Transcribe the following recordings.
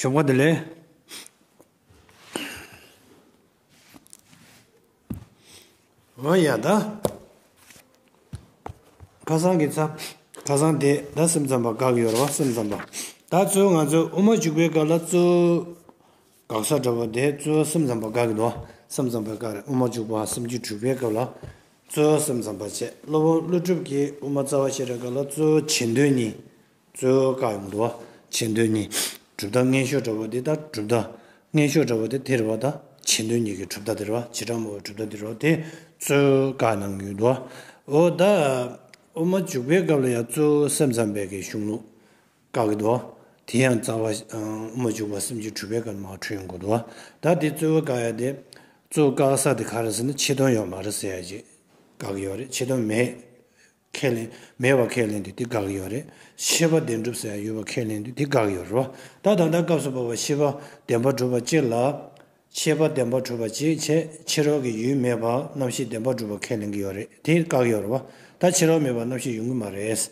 གཞོགས་པ་དེ་ལས། ང་ཡ་ད། ཁ་སང་གི་ཚ། ཁ་སང་དེ་ད་སེམས་ཙམ་པ་དགག་ཡོད་རེད་བ་སེམས་ཙམ་པ། ད་གཙོས་ང་ཚོས་དབུ་མ་འཇུག་པའི་སྐབས་ལ་གཙོས། དགག་བྱ་འདྲ་བོ་དེ་རྩོལ་སེམས་ཙམ་པ་དགག་གི་འདུག་སེམས་ཙམ་པའི་དགག་རེད་དབུ་མ་འཇུག་པ་སུམ་ཅུ་དྲུག་པའི་སྐབས་ལ་རྩོལ་སེམས་ཙམ་པ་བྱས་སློབ་དཔོན་ཀླུ་སྒྲུབ་ཀྱིས་དབུ་མ་རྩ་བ་ཤེས་རབ་དགག་ལ་རྩོལ་བྱེད་འདོད་གཉིས་རྩོལ་དགག་ཡོང་འདུག་བྱེད་འདོད་གཉིས་གྲུབ་མཐའ་ངན་ཤོས་འདྲ་བོ་དེ་ལྟར་གྲུབ་མཐའ་ངན་ཤོས་འདྲ་བོ་དེ་དེར་བ་དང་བྱེད་འདོད་གཉིས་ཀྱི་གྲུབ་མཐའ་དེར་བ་བྱེད་ཕྲ་མོ་བའི་གྲུབ་མཐའ་དེར་བ་དེ་རྩོལ་དགག་གནང་གི་ཡོད་འདུག་འོ་ད་དབུ་མ་འཇུག་པའི་སྐབས་ལ་ཡང་རྩོལ་སེམས་ཙམ་པའི་གཞུང་ལུགས་བཀའ་གདུགས། དེ་ཡང་རྩ་བ། མ་བཅུག་པར་སེམས་ཅན་འཁྲུལ་པའི་ཀརྨ་ཁ་འཁྲུལ་ཡང་དགོས་འདུག་བ། ད་དེ་རྩོད་བ་བཀག་ཡ་དེ། རྩོད་བཀག་ས་དེ་ག་རེད་ཟེར་ན་ཆེ་མཐོང་ཡོད་མ་རེད་ཟེར་ཡ་ཅིག་བཀག་གི་ཡོད་རེད་ཆེ་མཐོང་མེད། ཁས་ལེན། མེད་པ་ཁས་ལེན་དུས་དེ་བཀག་གི་ཡོད་རེད། ཤེས་པ་བདེན་གྲུབ་ཟེར་ཡ་ཡོད་པ་ཁས་ལེན་དུས་དེ་བཀག་གི་ཡོད་རེད་བ། ད་ད་ལྟ་སྐབས་སུ་བབ་པ་ཤེས་པ་བདེན་པ་གྲུབ་པ་བཅས་ལ། ཆད་པ་བདེན་པར་གྲུབ་པ་ཅིག་བྱས་ཕྱི་རོལ་གྱི་ཡུལ་མེད་པར་རྣམ་ཤེས་བདེན་པར་གྲུབ་པར་ཁས་ལེན་གྱི་ཡོད་རེད་དེ་བཀག་ཡོད་རེད་བ། ད་ཕྱི་རོལ་མེད་པར་རྣམ་ཤེས་ཡོང་གི་མ་རེད།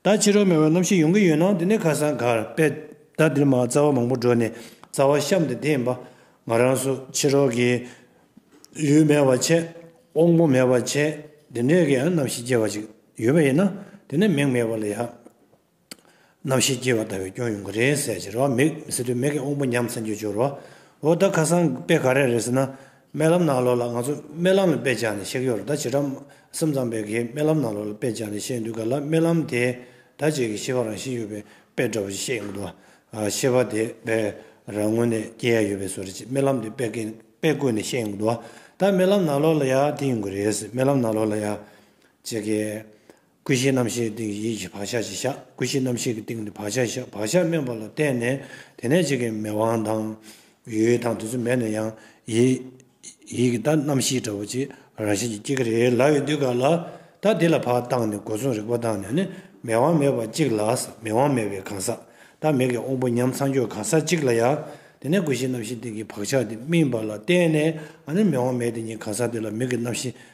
ད་ཕྱི་རོལ་མེད་པར་རྣམ་ཤེས་ཡོང་གི་ཡོད་ན་དེ་ནི་ཁ་སང་གར་པད་ཟླ་འདིར་མ་རྩ་བ་མང་པོ་བགྲོད་ནས་རྩ་བ་བཤམས་ཏེ་བསྡད་ཡིན་པ། ང་རང་སུ་ཕྱི་རོལ་གྱི་ཡུལ་མེད་པར་བྱས་དབང་པོ་མེད་པར་བྱས་དེ་འདྲའི་གི་རྣམ་ཤེས་སྐྱེ་བ་ཅིག་ཡོད་པ་ཡིན་ན་དེ་ནི་མིང་མེད་པ་ལས་ཡག། རྣམ་ཤེས་སྐྱེ་བ་ལྟ་བུའི་སྐྱོན་ཡོང་གི་རེད་ཟེར་གྱི་རོ་མིག་མི་སྲིད་དུས་མིག་གི་དབང་པོ་ཉམས་ཚར་འགྱུར་འགྱུར་རོ། འོ་ད་ཁ་སང་དཔེ་ག་རེ་རེད་ཟེར་ན། རྨི་ལམ་ནང་ལོགས་ལ་ང་ཚོ་རྨི་ལམ་ལ་དཔེ་བྱས་ནས་གཤེགས་ཡོད་རེད་ད་བྱེད་སྒྲ་སེམས་ཙམ་པས་གིས་རྨི་ལམ་ནང་ལོགས་ལ་དཔེ་བྱས་ནས་གཤེགས་འདུག་ག་ལ་རྨི་ལམ་དེས་ད་བྱེད་ཀྱི་ཤེས་པ་རང་བཞིན་ཡོད་པའི་དཔེ་འདྲ་བོ་ཞིག་བཤད་ཀྱི་འདུག་ཨ། ཤེས་པ་དེ་དཔེ་རང་ངོས་ནས་སྐྱེ་ཡ་ཡོད་པས་སོ་རེད་ཅེས་རྨི་ལམ་དེ་དཔེ་བཀོད་ནས་བཤད་ཀྱི་འདུག་ཨ། ད་རྨི་ལམ་ནང་ལོགས་ལ་ཡང་དེ་ཡོང་གི་རེད་ཟེར་རྨི་ལམ་ནང་ལོགས་ལ་ཡང། ཅེས། ཀུན་གཞིའི་རྣམ་ཤེས་ཀྱི་སྟེང་གི་ཡིད་ཀྱི་བག་ཆགས་ཀྱིས་བཞག་ཀུན་གཞིའི་རྣམ་ཤེས་ཀྱི་སྟེང་གི་བག་ཆགས་ཀྱིས་བཞག་བག་ཆགས་དམན་པ་ལ་བརྟེན་ནས་དེ་ནས་གཅིག་གིས་མེད་དབང་དང། ཡུལ་དང་དུས་སུ་མེད་ནས་ཡང་ཡིད། ཡིད་ཀྱི་ད་རྣམ་ཤེས་འདྲ་བོ་ཅིག་རང་བཞིན་གྱིས་སྐྱེ་གི་རེད་ལབ་ཡོད་དུས་ག་ལ། ད་འདི་ལ་བག་བཏང་ནས་སྒོ་མཚུངས་རིག་པ་བཏང་ནས་ནི་མེད་དབང་མེད་པ་གཅིག་ལ་མེད་དབང་མེད་པའི་གང་ཟག་ད་མེད་ཀྱི་དབང་པོ་ཉམས་ཚང་གྱོད་གང་ཟག་གཅིག་ལ་ཡང་དེ་ནས་ཀུན་གཞིའི་རྣམ་ཤེས་སྟེང་གི་བག་ཆགས་དེ་སྨིན་པ་ལ་བརྟེན་ནས་ཨ་ནི་མེད་དབང་མེད་དེ་ཉིད་གང་ཟག་དེ་ལ་མིག་གི་རྣམ་ཤེས་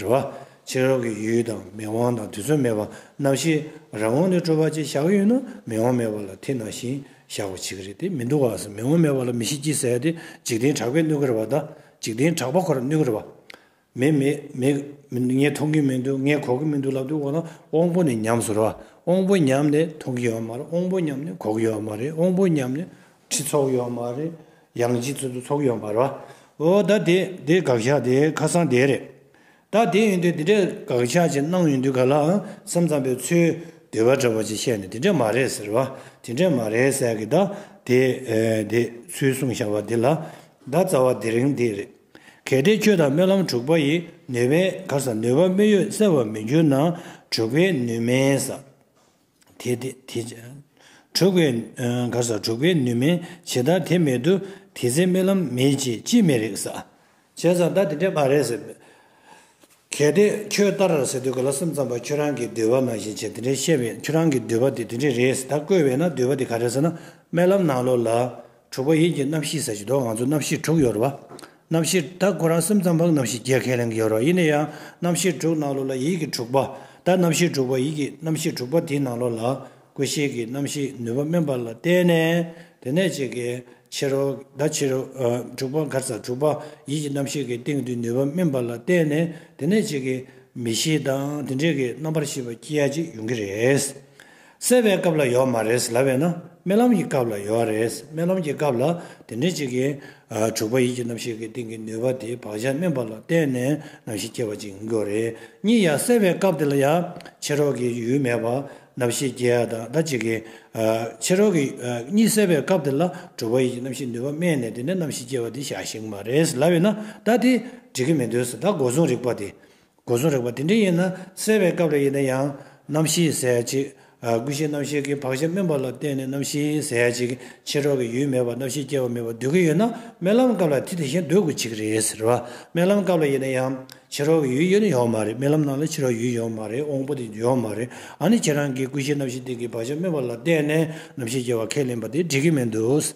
རེ་བ། ཕྱི་རོལ་གྱི་ཡུལ་དང་མིག་དབང་དང་དུས་ཚོད་མེད་པར་རྣམ་ཤེས་རང་ངོ་ནས་སྤྲོ་བ་ཅན་བཞག་གི་ཡོད་ན་མིག་དབང་མེད་པ་ལ་ཐིག་ནང་བཞིན་བཞག་པ་བྱེད་ཀྱི་རེད་དེ་མི་འདུག་ག་སེམས་མིག་དབང་མེད་པ་ལ་མི་ཤེས་ཀྱིས་ཟེར་ཏེ་འཇིག་རྟེན་གྲགས་པས་གནོད་ཀྱི་རེད་བ་ད། འཇིག་རྟེན་གྲགས་པ་ཁོ་ར་གནོད་ཀྱི་རེད་བ། མེད་མེད་མེད། ངས་མཐོང་གི་མི་འདུག་ངས་གོ་གི་མི་འདུག་ལབ་དུས་འོ་ན་དབང་པོ་ནས་ཉམས་སུ་རེ་བ། དབང་པོ་ཉམས་ནས་མཐོང་གི་ཡོད་མ་རེད་དབང་པོ་ཉམས་ནས་གོ་གི་ཡོད་མ་རེད་དབང་པོ་ཉམས་ནས་ཁྲི་ཚོགས་ཡོང་བ་རེད། ཡང་སྤྱི་འཐུས་ཚོགས་ཡོང་བར། འོ་ད་དེ་དེ་དགག་བཞག་དེ་ཁ་སང་དེ་རེད། ད་དེ་ཡིན་དུས་དེ་འདྲའི་དགག་བཞག་ཅིག་གནང་ཡོང་དུས་ག་ལ་ཨང་སེམས་ཙམ་པའི་ཚུལ་དེ་བ་འདྲ་བ་ཅིག་བཤད་ནས་དེ་འདྲས་མ་རེད་ཟེར་བ་དེ་འདྲས་མ་རེད་ཟེར་གི་ད་དེ་དེ་ཚུལ་གསུངས་བཞག་པ་དེ་ལ་ད་རྩ་བ་དེ་རིང་དེ་རེད། གལ་ཏེ་ཁྱོད་དང་སྨོན་ལམ་དྲུག་པ་ཡི་ནུས་པའི་གར་ས་ནུས་པ་དམིགས་ཡོད་གསལ་བ་མི་འགྱུར་ན་དྲུག་པའི་ནུས་མེད་ས། དེ་དྲུག་པའི། གར་ས་དྲུག་པའི་ནུས་མེད་ཇི་ལྟར་དེ་མེད་དུ་དེ་ཚེ་རྨི་ལམ་མེད་ཅེས་ཅི་མི་རིགས་ས། བྱས་ཙང་ད་དེ་འདྲས་མ་རེད་ཟེར། གལ་ཏེ་ཁྱོད་ལྟར་ཟེར་དུས་ག་ལ་སེམས་ཙམ་པ་ཁྱོད་རང་གིས་འདོད་པ་ནང་བཞིན་བྱས་དེ་འདྲས་བཤད་པས་ཁྱོད་རང་གི་འདོད་པ་དེ་དེ་འདྲས་རེད་ཟེར་ད་བཀོད་བས་ན་འདོད་པ་དེ་ག་རེད་ཟེར་ན་རྨི་ལམ་ནང་ལོགས་ལ་དྲུག་པ་ཡིད་ཀྱི་རྣམ་ཤེས་ཟེར་གྱི་འདུག་ང་ཚོ་རྣམ་ཤེས་དྲུག་ཡོད་རེད་པ། རྣམ་ཤེས་ད་ཁོ་རང་སེམས་ཙམ་པའང་རྣམ་ཤེས་བརྒྱད་ཁས་ལེན་གྱི་ཡོད་རེད་པ་ཡིན་ན་ཡང་རྣམ་ཤེས་དྲུག་ནང་ལོགས་ལ་ཡིད་ཀྱི་དྲུག་པ་ད་རྣམ་ཤེས་དྲུག་པ་ཡིད་ཀྱི་རྣམ་ཤེས་དྲུག་པ་དེའི་ནང་ལོགས་ལ་ཀུན་ཤེས་ཀྱི་རྣམ་ཤེས་ནུས་པ་དམན་པ་ལ་བརྟེན་ནས་དེ་ནས་བྱེད་ཀྱི་ཕྱིར་རོ། ད་ཕྱིར་རོ། དྲུག་པ་འགར་ཟ་དྲུག་པ་ཡིད་ཀྱི་རྣམ་ཤེས་ཀྱི་སྟེང་དུ་ནུས་པ་དམན་པ་ལ་བརྟེན་ནས་དེ་ནས་བྱེད་ཀྱི་མི་ཤེས་དང་དེ་འདྲས་ཀྱི་རྣམ་པར་ཤེས་པ་སྐྱེ་ཡ་གཅིག་ཡོང་གི་རེད། གསལ་བའི་སྐབས་ལ་ཡོད་མ་རེད་ལབ་བས་ན་རྨི་ལམ་གྱི་སྐབས་ལ་ཡོད་རེད་རྨི་ལམ་གྱི་སྐབས་ལ་དེ་འདྲའི་ཅིག་གིས་དྲུག་པ་ཡིད་ཀྱི་རྣམ་ཤེས་ཀྱི་སྟེང་གི་ནུས་པ་དེ་བག་ཆགས་སྨིན་པ་ལ་བརྟེན་ནས་རྣམ་ཤེས་སྐྱེ་བ་ཅིག་ཡིན་དགོས་རེད་གཉིས་ཡ་གསལ་བའི་སྐབས་དེ་ལ་ཡ་ཕྱི་རོལ་གྱི་ཡུལ་མེད་པར་རྣམ་ཤེས་སྐྱེ་ཡ་དང་ད་ཅིག་གིས་ཕྱི་རོལ་གྱི་གཉིས་གསལ་བའི་སྐབས་དེ་ལ་དྲུག་པ་ཡིད་ཀྱི་རྣམ་ཤེས་ནུས་པ་སྨིན་ནས་དེ་ནས་རྣམ་ཤེས་སྐྱེ་བ་དེ་བཞག་ཤིང་མ་རེད་ལབ་བས་ན་ད་དེ་འགྲིག་གི་མི་འདོད་ད་སྒོ་བཟུང་རིག་པ་དེ་སྒོ་གསུམ་རེག་པ་དེ་འདྲ་ཡིན་ན་གསལ་བའི་སྐབས་རེ་ཡིན་ན་ཡང་རྣམ་བཞིའི་གཟའ་གཅིག། ཀུན་གཞི་རྣམ་ཤེས་ཀྱི་བག་ཆགས་དམན་པ་ལ་བརྟེན་ནས་རྣམ་བཞིའི་གཟའ་གཅིག་ཕྱིར་འཕྲོག་གི་ཡུལ་མེད་པར་རྣམ་ཤེས་སྐྱེ་བ་མེད་པར་སྡོད་ཀྱི་ཡོད་ན་རྨི་ལམ་སྐབས་ལ་དེ་དེ་བཞིན་སྡོད་དགོས་ཅི་གི་རེད་ཟེར། རྨི་ལམ་སྐབས་ལ་ཡིན་ན་ཡང་ཕྱིར་འཕྲོག་གི་ཡུལ་ཡོད་ཡོད་མ་རེད་རྨི་ལམ་ནང་ལ་ཕྱིར་འཕྲོག་ཡུལ་ཡོད་མ་རེད་འོང་པོ་དེ་ཡོད་མ་རེད་ཨ་ནི་ཁྱེད་རང་གིས་ཀུན་གཞི་རྣམ་ཤེས་སྟེང་གི་བག་ཆགས་དམན་པ་ལ་བརྟེན་ནས་རྣམ་ཤེས་སྐྱེ་བ་ཁས་ལེན་པ་དེ་འགྲིག་གི་མི་འདུག།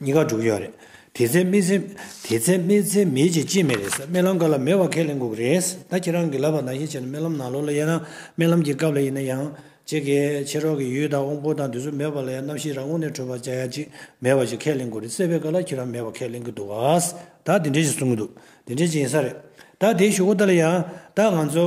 གཉིས་ཀ་འགྲུབ་ཀྱི་ཡོད་རེད། དེ་ཚེ་སྨི་ཚེ། དེ་ཚེ་སྨི་ཚེ་མེད་ཅེས་ཅིས་མེད་རེད་ས་རྨི་ལམ་ག་ལ་མེད་བ་ཁས་ལེན་དགོས་ཀྱི་རེད་ས་ད་ཁྱེད་རང་གིས་ལབ་པ་ནང་བཞིན་བྱས་ན་རྨི་ལམ་ནང་ལོགས་ལ་ཡལ་ན་རྨི་ལམ་གྱི་སྐབས་ལ་ཡིན་ན་ཡང། ཅེས་ཀྱི་ཕྱི་རོལ་གྱི་ཡུལ་དང་དབང་པོ་དང་དུས་ཚོད་མེད་པ་ལ་ཡང་རྣམ་ཤེས་རང་ངོ་ནས་འཕྲོད་པར་བྱ་ཡ་ཅིས་མེད་བ་ཞིག་ཁས་ལེན་དགོས་རེད་སྲེད་པའི་སྐབས་ལ་ཁྱེད་རང་མེད་བ་ཁས་ལེན་གྱི་འདུག་ག་ས་ད་དེ་འདྲས་ཞིག་གསུང་གྱི་འདུག་དེ་འདྲས་ཅིག་ཡིན་ས་རེད། ད་དེའི་ཞུ་སྒོ་ད་ལ་ཡང་ད་ང་ཚོ།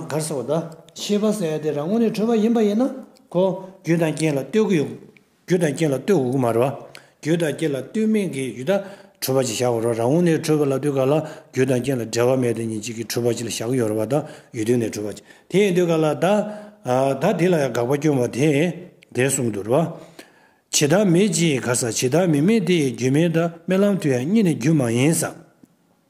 གར་ས་བ་ད། ཤེས་པ་ས་ཡ་དེ་རང་ངོ་ནས་འཕྲོད་པ་ཡིན་པ་ཡིན་ན། ཁོ། རྒྱུ་དང་རྐྱེན་ལ་ལྟོས་གྱི་ཡོད། རྒྱུ་དང་རྐྱེན་ལ་ལྟོས་དགུ་དགུ་མ་རེད། རྒྱུ་དང་རྐྱེན་ལ་ལྟོས་མིན་གྱི་ཡུལ་དག་འཁྲུལ་པ་གཅིག་བཞག་གོ་རོགས་རང་ངོ་ནས་འཁྲུལ་པ་ལ་ལྟོས་ག་ལ་རྒྱུ་དང་རྐྱེན་ལ་འབྲེལ་བ་མེད་དེ་ཉིད་གཅིག་གི་འཁྲུལ་པ་གཅིག་ལ་བཞག་གི་ཡོད་རེད་པ་དག་ཡུལ་དོན་ནས་འཁྲུལ་པ་གཅིག་དེ་ཡིན་ལྟོས་ག་ལ་ད་ད་དེ་ལ་ཡང་དགག་པ་སྐྱོན་པ་དེ་དེ་གསུམ་དུ་རོ། ཇི་ལྟར་མེད་ཅེས་ག་ས་ཇི་ལྟར་མི་མེད་དེ་ཡི་རྒྱུ་མེད་ད་རྨི་ལམ་དུ་ཡང་གཉིད་ནི་རྒྱུ་མ་ཡིན་ས།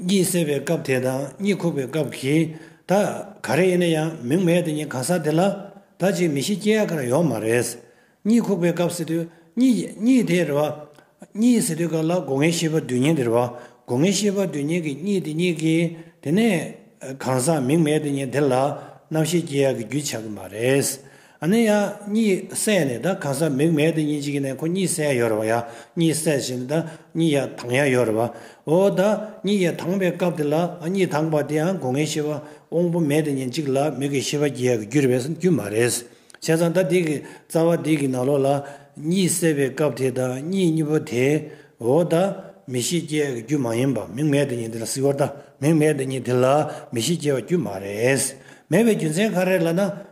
གཉིད་སད་པའི་སྐབས་དེ་དང་གཉིད་ཁུག་པའི་སྐབས་ཀྱི་ད་ག་རེ་ཡིན་ན་ཡང་མིང་མེད་དུ་གཉིད་གང་ཟག་དེ་ལ་ད་ཅིག་མི་ཤེས་སྐྱེ་ཡག་ག་རེ་ཡོང་མ་རེད། གཉིད་ཁུག་པའི་སྐབས་སད་དུས་གཉིད་དེ་རེད་བ། གཉིད་སད་དུས་སྐབས་ལ་སྒོ་ངའི་ཤེས་པ་རྡུལ་སྙེད་དེ་རེད་བ། སྒོ་ངའི་ཤེས་པ་རྡུལ་སྙེད་ཀྱི་གཉིད་དེ་གཉིད་ཀྱི་དེ་ནས་གང་ཟག་མིང་མེད་དུ་གཉིད་དེ་ལ་རྣམ་ཤེས་སྐྱེ་ཡག་གི་རྒྱུ་ཆགས་ཀྱི་མ་རེད། ཨ་ནི་ཡང་གཉིད་སད་ནས་ད་གང་སར་མིག་མེད་དེ་གཉིད་ཅིག་ནས་ཁོ་གཉིད་སད་ཡོད་རེད་བ་ཡང་གཉིད་སད་བཞིན་ད་གཉིད་ཡ་དྭངས་ཡ་ཡོད་རེད་བ། འོ་ད་གཉིད་ཡ་དྭངས་པའི་སྐབས་དེ་ལ་ཨ་གཉིད་དྭངས་པ་དེ་ཡང་སྒོ་ངའི་ཤི་བ་དབང་པོ་མེད་དེ་ཉིན་གཅིག་ལ་མིག་གི་ཤི་བ་རྒྱས་གི་རྒྱུ་རེད་བས་སམ་རྒྱུ་མ་རེད། བྱས་ཙང་ད་དེ་གི་རྩ་བ་དེ་གི་ན་ལོ་ལ་གཉིད་སད་པའི་སྐབས་དེ་ད་གཉིད་གཉིད་པོ་དེ་འོ་ད་མི་ཤི་རྒྱས་གི་རྒྱུ་མ་ཡིན་པ་མིག་མེད་དེ་ཉིན་དེ་ལ་སྲིད་འོ་ད་མིག་མེད་དེ་ཉིན་དེ་ལ་མི་ཤི་རྒྱས་བ་རྒྱུ་མ་རེད། མེད་བའི་རྒྱུ་མཚན་ག་རེད་ལ་ན།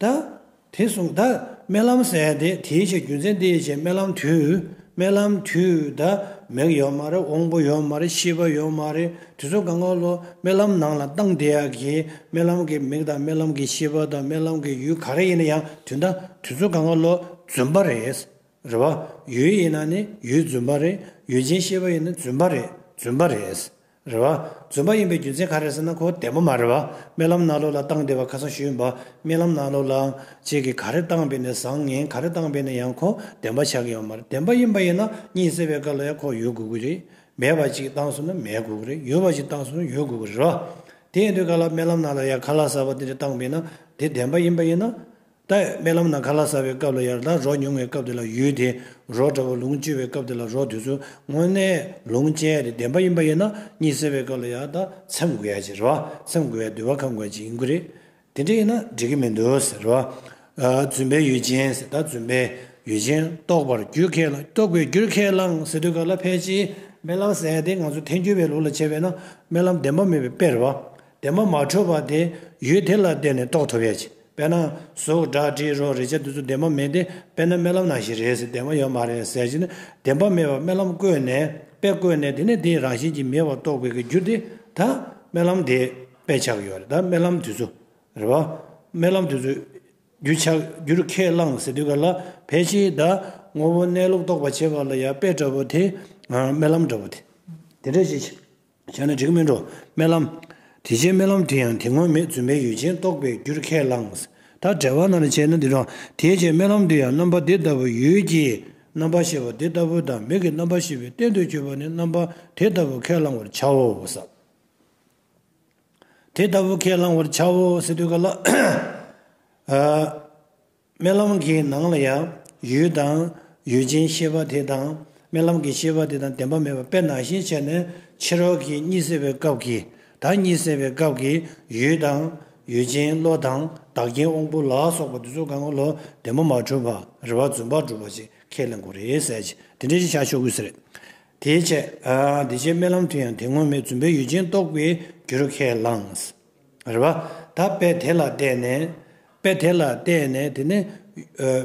བདག། དེ་གསུངས་བདག། རྨི་ལམ་གསལ་བདེ་དེའི་ཕྱིར་རྒྱུ་མཚན་འདི་ཡིན་ཞེས་རྨི་ལམ་དུས། རྨི་ལམ་དུས་བདག། མིག་ཡོད་མ་རེད་དབང་པོ་ཡོད་མ་རེད་ཤེས་པ་ཡོད་མ་རེད་དུས་ཚོད་གང་གང་ལོ་རྨི་ལམ་ནང་ལ་བཏང་བདེ་ཡག་གི་རྨི་ལམ་གྱི་མིག་དང་རྨི་ལམ་གྱི་ཤེས་པ་དང་རྨི་ལམ་གྱི་ཡུལ་ག་རེ་ཡིན་ན་ཡང་དུས་འདའ་དུས་ཚོད་གང་གང་ལོ་རྫུན་པ་རེད། རེད་བ། ཡུལ་ཡིན་ན་ནི་ཡུལ་རྫུན་པ་རེད་ཡུལ་ཅན་ཤེས་པ་ཡིན་ན་རྫུན་པ་རེད་རྫུན་པ་རེད། རེད་བ། རྫུན་པ་ཡིན་པའི་རྒྱུ་མཚན་ག་རེད་ཟེར་ན་ཁོ་བདེ་མོ་མ་རེད་བ། རྨི་ལམ་ནག་ལོ་ལ་བཏང་བདེ་བ་ཁ་སང་ཞུས་ཡིན་པ། རྨི་ལམ་ནག་ལོ་ལའང་གཅིག་གིས་ག་རེ་བཏང་བས་ནས་བཟང་ངན་ག་རེ་བཏང་བས་ནས་ཡང་ཁོ་བདེན་པ་ཆགས་ཀྱི་ཡོད་མ་རེད་བདེན་པ་ཡིན་པ་ཡིན་ན་གཉིད་སད་པའི་སྐབས་ལ་ཡང་ཁོ་ཡོད་དགོས་ཀྱི་རེད། མེད་པ་ཅིག་བཏང་སོང་ན་མེད་དགོས་ཀྱི་རེད་ཡོད་པ་ཅིག་བཏང་སོང་ན་ཡོད་དགོས་ཀྱི་རེད་བ། དེ་ཡིན་དུས་ག་ལ་རྨི་ལམ་ནག་ལོ་ཡ་ག་ལ་ཟ་བ་འདི་འདྲ་བཏང་བས་ན་དེ་བདེན་པ་ཡིན་པ་ཡིན་ན། ད་ཡོད་རྨི་ལམ་ན་ག་ལ་ཟ་བའི་སྐབས་ལ་ཡར་དྭགས་རོ་ཉུང་བའི་སྐབས་དེ་ལ་ཡུལ་དེའི་རོ་འདྲ་བོ་ལུང་བཅུ་བའི་སྐབས་དེ་ལ་རོ་དུས་ཚོད་དངོས་གནས་ལུང་བཅད་དེ་བདེན་པ་ཡིན་པ་ཡིན་ན་གཉིད་སད་པའི་སྐབས་ལ་ཡར་དྭགས་ཚེམས་དགོས་ཡ་ཅེས་རེད་བ་ཚེམས་དགོས་ཡ་དུས་བ་ཁ་འགོད་ཅིག་ཡིན་དགོས་རེད་དེ་འདྲ་ཡིན་ན་འགྲིག་གི་མི་འདུག་ཟེར་རེད་བ། རྫུན་པའི་ཡུལ་ཅན་ཟེར་ད་རྫུན་པའི་ཡུལ་ཅན་རྟོགས་པར་རྒྱུ་ཁས་བླངས་རྟོགས་པའི་རྒྱུར་ཁས་བླངས་ཟེར་དུས་ག་ལ་ཕལ་ཆེའི་རྨི་ལམ་ཟད་དེ་ང་ཚོ་ཐལ་འགྱུར་བའི་ལུགས་ལ་བྱས་པས་ན་རྨི་ལམ་བདེན་པ་མེད་པའི་དཔེར་རེད་བ། འདས་མ་མ་འཕྲོས་པ་དེ་ཡུལ་དེ་ལ་བརྟེན་ནས་རྟོགས་ཐུབ་ཡ་ཅི། དཔེར་ན། གཟུགས་སྒྲ་དྲི་རོ་རེག་བྱ་དེ་ཚོ་འདས་མ་མེད་དེ་དཔེར་ན་རྨི་ལམ་ནང་བཞིན་རེད་ཟེར་འདས་མ་ཡོད་མ་རེད་ཟེར་གྱི་ན་འདས་མ་མེད་པར་རྨི་ལམ་བཀོད་ནས་དཔེ་བཀོད་ནས་དེ་ནས་དེའི་རང་བཞིན་གྱིས་མེད་པར་རྟོགས་དགོས་ཀྱི་རྒྱུ་དེ་ད་རྨི་ལམ་དེས་དཔེ་ཆགས་ཀྱི་ཡོད་རེད་ད་རྨི་ལམ་དེ་ཚོ་རེད་བ། རྨི་ལམ་དེ་ཚོས་རྒྱུ་ཆགས་རྒྱུར་ཁས་བླངས་ཟེར་དུས་ག་ལ་ཕལ་ཆེ་ད་ངོ་བོ་གནས་ལུགས་རྟོགས་པར་བྱེད་པ་ལ་ཡང་དཔེ་འདྲ་བོ་དེ་རྨི་ལམ་འདྲ་བོ་དེ་དེ་འདྲ་བྱེད་ཀྱི། བྱས་ན་འགྲིག་གི་མིན་འགྲོ་རྨི་ལམ། དེ་རྗེས་རྨི་ལམ་དེ་ཡང་དེ་སྔོན་མེད་བརྫུན་པའི་ཡུལ་ཅན་རྟོགས་པའི་རྒྱུར་ཁས་བླངས། ད་བྲལ་བ་ན་ལ་བྱས་ན་འདི་འདྲའོ། དེའི་རྗེས་རྨི་ལམ་དེ་ཡང་རྣམ་པ་དེ་ལྟ་བུ་ཡུལ་གྱི་རྣམ་པ་ཤེས་པ་དེ་ལྟ་བུ་དང་མིག་གི་རྣམ་པ་ཤེས་པའི་རྟེན་དུ་གྱུར་པ་ནི་རྣམ་པ་དེ་ལྟ་བུ་ཁས་བླང་བར་བྱའོ། དེ་ལྟ་བུ་ཁས་བླང་བར་བྱའོ། སི་ཏུ་ཀ་ལ། རྨི་ལམ་གྱི་ནང་ལ་ཡང་ཡུལ་དང་ཡུལ་ཅན་ཤེས་པ་དེ་དང་རྨི་ལམ་གྱི་ཤེས་པ་དེ་དང་བདེན་པ་མེད་པ་དཔེར་ན་ཞེས་བྱས་ནས་ཕྱི་རོལ་གྱི་གཉིད་སད་པའི་སྐབས་ཀྱི་བདག་གཉིད་སད་པའི་སྐབས་ཀྱི་ཡུལ་དང་ཡུལ་ཅན་བློ་དང་བདག་རྐྱེན་དབང་པོ་ལ་སོགས་པ་འདི་ཚོ་གང་གི་ལོ་བདེན་པ་མ་གྲུབ་པ་རེ་བ་རྫུན་པར་སྒྲུབ་པ་ཅིག་ཁས་ལེན་དགོས་རེད་ཟེར་གྱི་དེ་འདྲའི་ཅིག་བྱ་ཆོག་གི་ཟེར། དེའི་ཕྱིར་རྨི་ལམ་དུ་ཡང་དེ་དངོས་མེད་རྫུན་པའི་ཡུལ་ཅན་རྟོགས་པའི་རྒྱུར་ཁས་བླངས། རེ་བ། ད་དཔེ་དེ་ལ་བལྟས་ནས། དཔེ་དེ་ལ་བལྟས་ནས་དེ་ནི།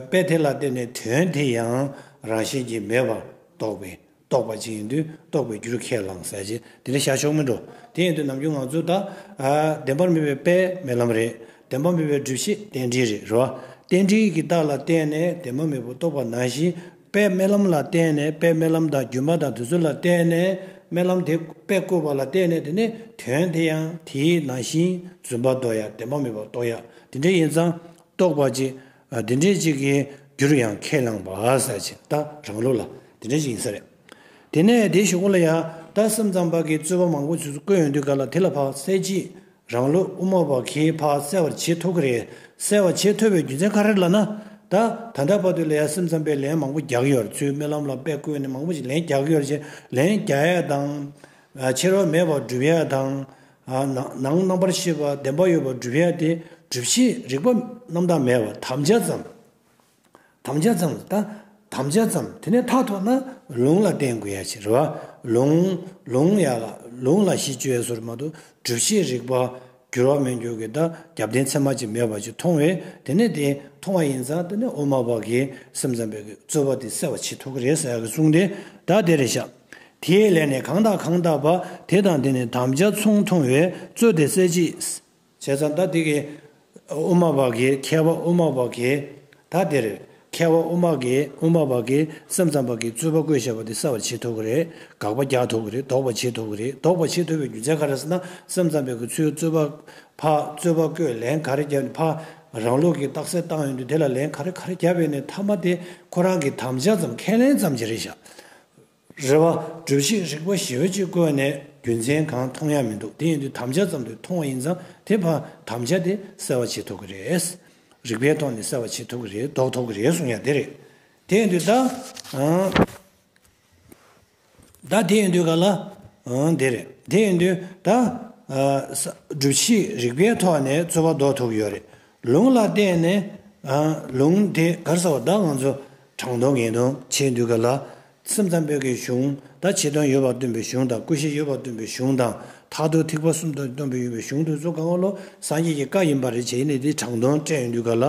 དཔེ་དེ་ལ་བལྟས་ནས་དོན་དེ་ཡང་རང་བཞིན་གྱིས་མེད་པར་རྟོགས་པས་རྟོགས་པ་ཅིག་ཡིན་དུས་རྟོགས་པའི་རྒྱུར་ཁས་བླངས་ཟེར་གྱི་དེ་ནི་ཤར་ཕྱོགས་མིན་འགྲོ། དེ་ཡིན་དུས་ནམ་རྒྱུན་ང་ཚོས་ད་བདེན་པར་མི་བས་པས་རྨི་ལམ་རེད། བདེན་པ་མི་བས་སྒྲིབ་བྱེད་རྟེན་འབྲེལ་རེད་རེ་བ། རྟེན་འབྲེལ་གྱི་རྟགས་ལ་བརྟེན་ནས་དེ་མ་མེད་པོ་རྟོགས་པ་ནང་བཞིན། པའི་རྨི་ལམ་ལ་བརྟེན་ནས་དཔེ་རྨི་ལམ་དང་སྒྱུ་མ་དང་དུས་ཚོད་ལ་བརྟེན་ནས་རྨི་ལམ་དེ་དཔེ་བཀོད་པ་ལ་བརྟེན་ནས་དེ་ནི་དོན་དེ་ཡང་དེའི་ནང་བཞིན་བརྫུན་པ་འདོགས་ཡ་བདེན་པ་མེད་པ་རྟོགས་ཡ་དེ་འདྲའི་ཡིན་ཙང་རྟོགས་པ་ཅིག་དེ་འདྲའི་ཅིག་གི་རྒྱུར་ཡང་ཁས་བླངས་པ་ཟེར་ཅིང་ད་རང་ལུགས་ལ་དེ་འདྲའི་ཅིག་ཡིན་ས་རེད། དེ་ནས་དེའི་ཞོགས་པ་ལ་ཡང་ད་སེམས་ཙམ་པ་གི་རྩོད་པ་མང་པོ་བྱུས་སུ་བཀོད་ཡོང་དུས་ག་ལ་དེ་ལ་བག་ཚད་ཅིག་རང་ལུས་དབུ་མ་བག་ཁེའི་བག་གསལ་བར་བྱེད་ཐུབ་ཀྱི་རེད། གསལ་བར་བྱེད་ཐུབ་པའི་རྒྱུ་མཚན་ག་རེ་ལ་ན། ད་ད་ལྟ་བར་དུ་ལས་སེམས་ཙམ་པས་ལན་མང་པོ་རྒྱག་ཡོད་ཚུལ་རྨི་ལམ་ལ་དཔེ་བཀོད་ནས་མང་པོ་ཞིག་ལན་རྒྱག་ཡོད་ཅེས་ལན་རྒྱག་ཡས་དང། ཕྱི་རོལ་མེད་པར་བསྒྲུབ་ཡས་དང། ནང་རྣམ་པར་ཤེས་པ་བདེན་པ་ཡོད་པར་བསྒྲུབ་ཡས་ཏེ་སྒྲུབ་བྱེད་རིག་པ་རྣམ་དག་མེད་པར་དམ་བཅའ་ཙམ། དམ་བཅའ་ཙམ་ལ་བལྟ། དམ་བཅའ་ཙམ་དེ་ནས་མཐའ་ཐོག་ན་ལུང་ལ་བརྟེན་དགོས་ཡ་ཕྱིར། ལུང། ལུང་ཡ་ལ་ལུང་ལ་གཞི་བཅོལ་བའི་སོར་མ་དུ་སྒྲུབ་བྱེད་རིག་པ་འགྱུར་བ་མི་འགྱུར་གྱི་བརྡ་རྒྱབ་བརྟེན་ཚད་མ་ཅིག་མེད་པ་ཅིག་མཐོང་བས་དེ་ནས་དེ་མཐོང་བ་ཡིན་ཙང་དེ་ནས་དབུ་མ་པ་གིས་སེམས་ཙམ་པའི་རྩོད་པ་དེ་སེལ་བ་བྱེད་ཐུབ་ཀྱི་རེད་ཟེར་གྱི་གསུངས་ཏེ་བརྡ་དེ་རེད་བཞག། དེའི་ལན་ནི་གང་དག་གང་དག་པ་དེ་དང་དེ་ནི་དམ་བཅའ་མཚུངས་མཐོང་བས་རྩོད་དེ་སེལ་ཅིག། བྱས་ཙང་ད་དེ་གའི་དབུ་མ་པ་གིས་མཁས་པ་དབུ་མ་པ་གིས་ད་དེར་མཁས་པ་དབུ་མ་གིས་དབུ་མ་པ་གིས་སེམས་ཙམ་པ་གིས་རྩོད་པ་བསྐོས་བྱས་པ་དེ་གསལ་བར་བྱེད་ཐུབ་ཀྱི་རེད་དགག་པ་རྒྱག་ཐུབ་ཀྱི་རེད་ལྡོག་པ་བྱེད་ཐུབ་ཀྱི་རེད་ལྡོག་པ་བྱེད་ཐུབ་པའི་རྒྱུ་མཚན་ག་རེ་ཟེར་ན་སེམས་ཙམ་པའི་གི་ཚུལ་རྩོད་པ་ཕ་རྩོད་པ་བསྐོས་ལན་ག་རེ་རྒྱབ་ནས་ཕ་རང་ལུགས་ཀྱི་རྟགས་གསལ་བཏང་ཡོང་དུས་དེ་ལ་ལན་ག་རེ་ག་རེ་རྒྱབ་ཡོང་ནས་མཐའ་མ་དེ་ཁོ་རང་གིས་དམ་བཅའ་ཙམ་ཁས་ལེན་ཙམ་གྱི་རེད་བཞག་རེ་བ། སྒྲུབ་བྱེད་རིག་པ་ཞི་བ་གཅིག་བཀོད་ནས་རྒྱུ་མཚན་གང་མཐོང་ཡ་མི་འདུག་དེ་ཡིན་དུས་དམ་བཅའ་ཙམ་དུ་མཐོང་བ་ཡིན་ཙང་དེ་བར་དམ་བཅའ་དེ་གསལ་བ་བྱེད་ཐུབ་ཀྱི་རེད། རིག་པའི་ཐོག་ནས་གསལ་བ་བྱེད་ཐུབ་ཀྱི་རེད་འདོགས་ཐུབ་ཀྱི་རེད་གསུང་ཡ་དེ་རེད། དེ་ཡིན་དུས་ད། ད་དེ་ཡིན་དུས་ག་ལ། དེ་རེད། དེ་ཡིན་དུས་ད། སྒྲུབ་བྱེད་རིག་པའི་ཐོག་ནས་རྩོད་པ་འདོགས་ཐུབ་ཀྱི་ཡོད་རེད། ལུང་ལ་བརྟེན་ནས། ལུང་དེ་གར་ཟེར་བ་ད་ང་ཚོ། དྲང་དོན་ངེས་དོན་ཆེས་འདུལ་ག་ལ། སེམས་ཙམ་པོད་ཀྱི་གཞུང་དང་ཆེ་དོན་ཡོད་པར་སྟོན་པའི་གཞུང་དང་ཀུན་གཞི་ཡོད་པར་སྟོན་པའི་གཞུང་དང་ཐར་ཐོར་ཐིགས་པ་གསུམ་དོན་སྟོན་པའི་ཡོད་པའི་གཞུང་དུ་གཙོ་གང་བ་ལོ་སངས་རྒྱས་ཀྱི་བཀའ་ཡིན་པར་རེ་བྱས་ནས་དེ་དྲང་དོན་བཀྲལ་ཡོད་འདུལ་ག་ལ།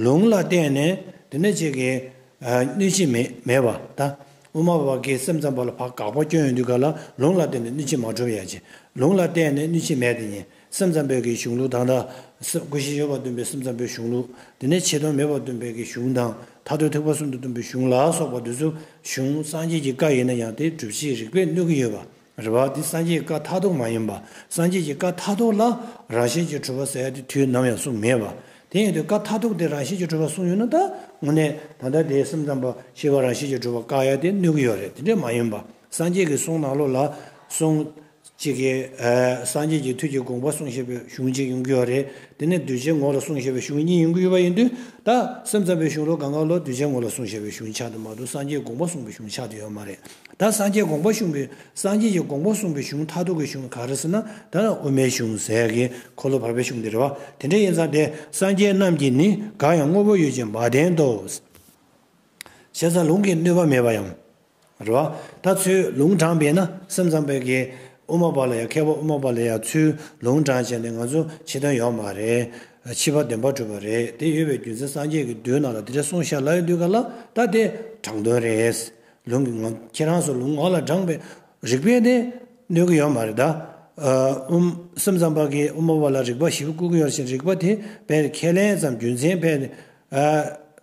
ལུང་ལ་བརྟེན་ནས་དེ་ནས་ཅིག་གིས་གནོད་བྱེད་མེད་པ་དང། དབུ་མ་པ་ཀྱིས་སེམས་ཙམ་པོ་ལ་བག་འགག་པོ་སྐྱོན་ཡོད་འདུལ་ག་ལ་ལུང་ལ་བརྟེན་ནས་གནོད་བྱེད་མ་གྲུབ་ཡ། ལུང་ལ་བརྟེན་ནས་གནོད་བྱེད་མེད་དེ་ཉན། སེམས་ཙམ་པས་ཀྱི་གཞུང་ལུགས་དང། སྐུ་བཞི་ཡོད་པར་སྟོན་པའི་སེམས་ཙམ་པའི་གཞུང་ལུགས། དེ་ནས་ཆེ་མཐོང་མེད་པར་སྟོན་པས་ཀྱི་གཞུང་དང། ཐར་འདོད་ཐེག་པ་གསུམ་དུ་སྟོན་པའི་གཞུང་ལ་སོགས་པ་འདི་ཚོ་གཞུང་སངས་རྒྱས་ཀྱི་བཀའ་ཡིན་ན་ཡང་དེ་སྒྲུབ་བྱེད་རིགས་པས་གནོད་ཀྱི་ཡོད་པ་རེད་བ། འདི་སངས་རྒྱས་ཀྱི་བཀའ་མཐའ་སྟོངས་མ་ཡིན་པ། སངས་རྒྱས་ཀྱི་བཀའ་མཐའ་སྟོངས་ལ་རང་བཞིན་གྱི་གྲུབ་པ་ཟེར་ཡ་དེ་དུས་ནམ་ཡང་གསུངས་མེད་པ། དེ་ཡིན་དུས་བཀའ་མཐའ་སྟོངས་དེ་རང་བཞིན་གྱི་གྲུབ་པ་གསུངས་ཡོད་ན་ད་དངོས་གནས་ད་ལྟ་དེ་སེམས་ཙམ་པ་ཞེས་པ་རང་བཞིན་གྱི་གྲུབ་པ་བཀག་ཡ་དེ་གནོད་ཀྱི་ཡོད་རེད་དེ་འདྲ་མ་ཡིན་པ་སངས་རྒྱས་ཀྱི་གསུང་ནང་ལོགས་ལ་གསུངས། གཅིག་གིས་སངས་རྒྱས་ཀྱི་དུས་ཀྱི་དགོངས་པ་གསུངས་ཞེས་པའི་གཞུང་གཅིག་ཡོང་གི་ཡོད་རེད། དེ་ནས་གདུལ་བྱའི་ངོ་ལ་གསུངས་ཞེས་པའི་གཞུང་གཉིས་ཡོང་གི་ཡོད་པ་ཡིན་དུས། ད་སེམས་ཙམ་པའི་གཞུང་ལོ་ག་འགའ་ལོར་གདུལ་བྱའི་ངོ་ལ་གསུངས་ཞེས་པའི་གཞུང་ཆགས་འདུག་མ་གཏོགས་སངས་རྒྱས་དགོངས་པ་གསུངས་པའི་གཞུང་ཆགས་འདུག་ཡོད་མ་རེད། ད་སངས་རྒྱས་དགོངས་པ་གཞུང་གི་སངས་རྒྱས་ཀྱི་དགོངས་པ་གསུངས་པའི་གཞུང་མཐའ་གཏུགས་ཀྱི་གཞུང་ག་རེ་ཟེར་ན་ད་དབུ་མའི་གཞུང་ཟས་ཀྱི་འཁོར་ལོ་བར་པའི་གཞུང་དེ་རེད་བ། དེ་འདྲ་ཡིན་ཙང་དེ་སངས་རྒྱས་རྣམས་ཀྱིས་ནི་གང་ཡང་དངོས་པོ་ཡོད་ཅེས་མ་བསྟན་ཏོ། བཤད་ཚ་ལུང་གིས་གནོད་པ་མེད་པ་ཡང། རེད། ད་ཚོས་ལུང་དྲངས་པས་ན་སེམས་ཙམ་པའི་གི་དབུ་མ་པ་ལ་ཡང་མཁས་པ་དབུ་མ་པ་ལ་ཡང་ཚུལ་ལུང་དྲངས་བྱས་ནས་ང་ཚོ་ཕྱི་དོན་ཡོང་མ་རེད། ཕྱི་བ་འདོན་པར་གྲུབ་པ་རེད་དེ་ཡོད་པའི་རྒྱུ་མཚན་སངས་རྒྱས་ཀྱི་མདུན་ནང་ལ་དེ་འདྲ་གསུངས་ཤར་ལ་ཡོད་དུས་ག་ལ་ད་དེ་དྲང་དོན་རེད། ལུང་གི་ངོ་ཁྱེད་རང་ཚོ་ལུང་ངོ་ལ་དྲངས་པའི་རིགས་པས་དེ་གནོད་གི་ཡོད་མ་རེད། སེམས་ཙམ་པ་གི་དབུ་མ་པ་ལ་རིགས་པ་བཞི་བཀུག་གི་ཡོད་ཕྱིན་རིགས་པ་དེ་བས་ཁས་ལེན་ཙམ་རྒྱུ་མཚན་བས།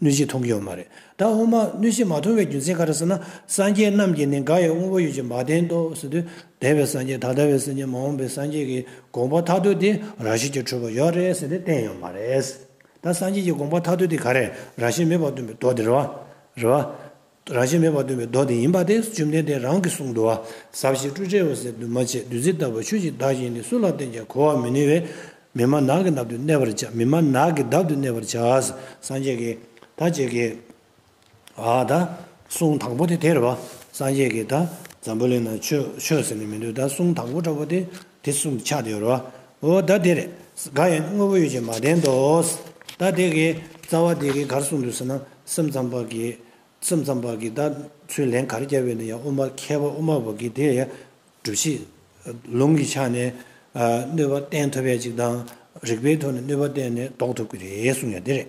གནོད་བྱེད་མཐོང་གི་ཡོད་མ་རེད་ད་འོ་མ་གནོད་བྱེད་མ་མཐོང་བའི་རྒྱུ་མཚན་ག་རེ་ཟེར་ན་སངས་རྒྱས་རྣམས་ཀྱིས་ནི་འགའ་ཡང་དངོས་པོ་ཡོད་ཅེས་མ་བསྟན་ཏོ་ཟེར་དུས་འདས་པའི་སངས་རྒྱས་ད་ལྟ་བའི་སེམས་ཅན་མ་འོངས་པའི་སངས་རྒྱས་ཀྱི་དགོངས་པ་ཐ་དོད་དེ་ར་བཤད་ཀྱི་འཕྲོས་པ་ཡོད་རེད་ཟེར་ནས་བསྟན་ཡོད་མ་རེད། ད་སངས་རྒྱས་ཀྱི་དགོངས་པ་ཐ་དོད་དེ་ག་རེ་ར་བཤད་མེད་པར་སྟོན་པའི་མདོ་དེ་རེད་བ། རང་བཞིན་མེད་པར་སྟོན་པའི་མདོ་དེ་ཡིན་པ་དེ་བཅོམ་ལྡན་འདས་རང་གིས་གསུངས་འདུག་བ་ཟ་བྱེད་སྤྲུལ་བྲལ་འོད་གསལ་འདུས་མ་བྱས་བདུད་རྩི་ལྟ་བུ་ཆོས་ཀྱི་བདག་གཞན་ནི་སུ་ལ་བསྟན་ཀྱང་གོ་བར་མི་ནུས་པས། མི་མ་ནག་གི་ནབ་ཏུ་གནས་པར་བྱ་མི་མ་ནག་གི་འདབ་ཏུ་གནས་པར་བྱ། སངས་རྒྱས་ཀྱིས་ད་བཅས་ཀྱི། ད་གསུང་དང་པོ་དེ་དེར་བ། སངས་རྒྱས་ཀྱིས་ད་འཛམ་བུ་གླིང་ན་ཆོས་ཆོས་ཟེར་ནས་མི་འདོད་ད་གསུང་དང་པོ་འདྲ་བོ་དེ་དེ་གསུམ་གྱི་ཆ་དེ་ཡོད་རོ། འོ་ད་དེར་གང་ཡང་དངོས་པོ་ཡོད་ཅེས་མ་བསྟན་ཏོ། ད་དེ་གའི་རྩ་བ་དེ་གའི་གར་གསུངས་འདུག་ཟེར་ན་སེམས་ཙམ་པ་གིས་སེམས་ཙམ་པ་གིས་ད་ཚུལ་ལན་གར་བསྐྱལ་བས་ན་ཡང་དབུ་མ་མཁས་པ་དབུ་མ་བོ་གིས་དེ་ཡང་སྒྲུབ་བྱེད་ལུང་གི་ཆ་ནས་གནོད་པ་བསྟན་ཐུབ་པའི་ཅིག་དང་རིགས་པའི་ཐོག་ནས་གནོད་པ་བསྟན་ནས་ལྡོག་ཐུབ་ཀྱི་རེད་གསུངས་ཡང་དེ་རེད།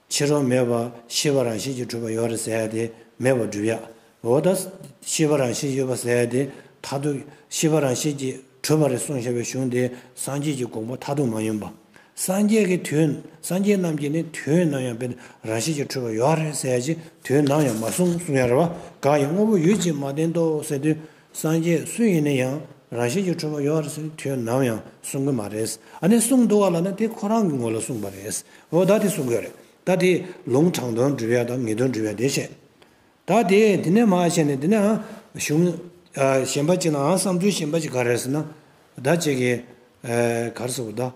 ཕྱི་རོལ་མེད་པར་ཤེས་པ་རང་བཞིན་གྱིས་གྲུབ་པ་ཡོད་རེད་ཟེར་ཏེ་མེད་པར་སྒྲུབ་ཡག་འོ་ད། ཤེས་པ་རང་བཞིན་ཡོད་པ་ཟེར་ཏེ་མཐའ་ཐུག་ཤེས་པ་རང་བཞིན་གྱིས་གྲུབ་པ་རེད་གསུངས་བཞག་པའི་གཞུང་དེ་སངས་རྒྱས་ཀྱི་དགོངས་པ་མཐའ་ཐུག་མ་ཡིན་པ། སངས་རྒྱས་ཀྱི་དུས་སངས་རྒྱས་རྣམས་ཀྱིས་ནི་དུས་ནམ་ཡང་དཔེ་རང་བཞིན་གྱིས་གྲུབ་པ་ཡོད་རེད་ཟེར་ཅིག་དུས་ནམ་ཡང་མ་གསུངས་གསུངས་ཡག་རེད་བ་གང་ཡིན་དངོས་པོ་ཡོད་ཅིག་མ་བསྟན་ཏོ་ཟེར་དུས་སངས་རྒྱས་སུ་ཡིན་ན་ཡང་རང་བཞིན་གྱིས་ཁྲོས་མ་ཡོང་བར་ཟེར་དུས་ནམ་ཡང་གསུང་གི་མ་རེད། ཨ་ནི་གསུང་འདུག་བ་ལ་ན་དེ་ཁོ་རང་གི་ངོ་ལ་གསུང་པ་རེད། འོ་ད་དེ་གསུང་གི་རེད་ད་དེ་ལུང་དྲང་དོན་འདྲི་བའི་དང་ངེས་དོན་འདྲི་བའི་དེ་བྱས། ད་དེ་དེ་ནས་མ་བྱས་ནས་དེ་ནའང་གཞུང་གཞན་པ་ཅིག་ནའང་བསམ་ཚུལ་གཞན་པ་ཅིག་ག་རེད་ཟེར་ན། ད་ཅིག་གིས་གར་ཟེར་བ་ད།